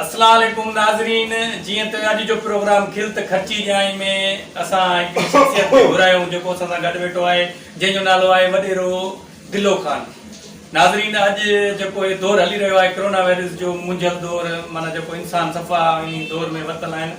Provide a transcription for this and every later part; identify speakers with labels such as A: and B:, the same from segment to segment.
A: السلام عليڪم ناظرين جيئن ته اڄ جو پروگرام کل ته خرچي جائين ۾ اسان هڪ شخصيت کي گهرايون جيڪو اسان سان گڏ ويٺو آهي جنهن جو نالو آهي وڏيرو دلو خان ناظرين اڄ جيڪو هي دور هلي رهيو آهي ڪرونا وائرس جو منجهيل دور معنيٰ جيڪو انسان صفا ۽ دور ۾ ورتل آهن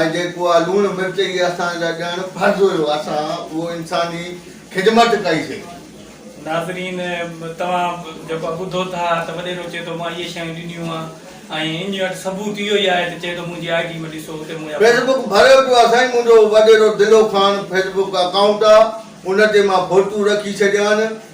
B: ۽ جيڪو اھا لوڻ مرچ ئي اسان جا ڏيڻ فرض ھيو اسان اھو انساني خدمت ڪئي سي. ناظرين
A: توھان جيڪو ٻڌو ٿا ته وڏيرو چئي ٿو مان اھي شيون ڏنيون آھن ۽ انھي وٽ ثبوت اھو ئي آھي ته چئي ٿو منھنجي آئي ڊي ۾ ڏسو اتي منھنجا فيس بڪ ڀريو پيو آھي
B: سائين منھنجو وڏيرو Dulo Khan Facebook account آھي ان تي مان فوٽو رکي ڇڏيا آھن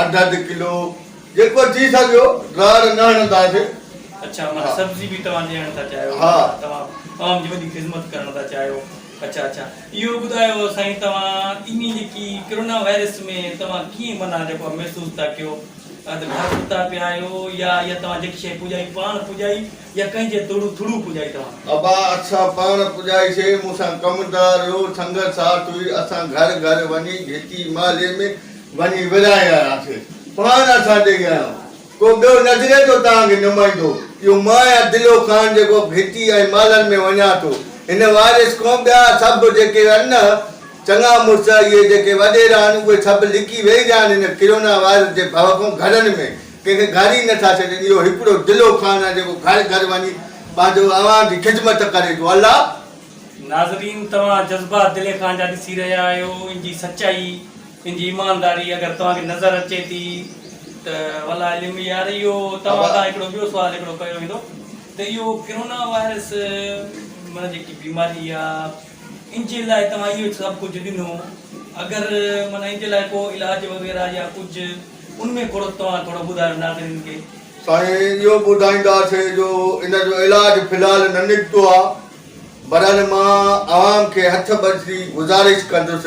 B: اڌ اڌ ڪلو جيڪو ٿي سگهيو راڙ نه هڻنداسين. اڇا معنيٰ
A: سبزي به توهان ڏيڻ ٿا چاهيو توهان
B: عوام جي
A: وڏي خدمت ڪرڻ ٿا چاهيو اڇا اڇا اهو ٻڌايو سائين توهان انهي جيڪي ڪرونا وائرس ۾ توهان ڪيئن معنيٰ جيڪو آهي محسوس ٿا ڪيو ته گهر ستا پيا آهيو يا يا توهان جيڪي شيء پڄائي پاڻ پڄائي يا ڪنهن جي ٿرو ٿرو پڄائي توهان. ابا اسان پاڻ
B: پڄائي سي مون سان ڪم دار هيو سنگت ساٿ هئي اسان گهر گهر وڃي گهٽي محلي ۾ وڃي ورهائي آياسين. پاڻ اسان ڏيئي آيو ڪو ٻيو نظري ٿو توهان کي نمائندو اهو مان آهيان دلو خان جيڪو گهتي ۽ مالن ۾ وڃان ٿو هن وارث کون ٻيا سڀ جيڪي ان چڱا مڙس اهي جيڪي وڏيرا آهن اهي سڀ لڪي ويهي رهيا آهن هن ڪرونا وائرس جي ڀؤ کون گهرن ۾ ڪنهن کي گهر ئي نٿا ڇڏين اهو هڪڙو دلو خان آهي جيڪو گهر گهر وڃي پنهنجو اوهان جي خدمت ڪري ٿو الله ناظرين
A: توهان جذبا دلي خان جا ڏسي رهيا آهيو ان جي سچائي. ان جي ايمانداري اگر توهان کي نظر اچي ٿي ته والله علم يار اهو توهان کان هڪڙو ٻيو سوال هڪڙو ڪيو ويندو ته اهو ڪرونا وائرس معنيٰ جيڪي بيماري آ ان جي لاء توهان اهو سڀ ڪجهه ڏنو اگر معنيٰ ان جي لاء ڪو علاج وغيره يا ڪجهه ان ۾ ڪھڙو توهان ٿورو ٻڌايو ناظرين کي. سائين اهو
B: ٻڌائيندا سي جو ان جو علاج في الحال نه نڪتو آ برحال مان عوام کي هٿ ٻڌي گذارش ڪندس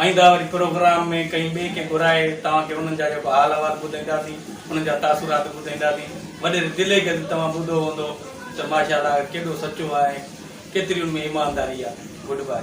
A: آئينده وري پروگرام ۾ ڪنهن ٻئي کي گهرائي توهان کي انهن جا جيڪو حال احوال ٻڌائينداسين انهن جا تاثرات ٻڌائينداسين وڏيري دلي کي ته توهان ٻڌو هوندو ته ماشاء الله ڪيڏو سچو آهي ۽ ڪيتري ان ۾ ايمانداري آهي گڊ باء.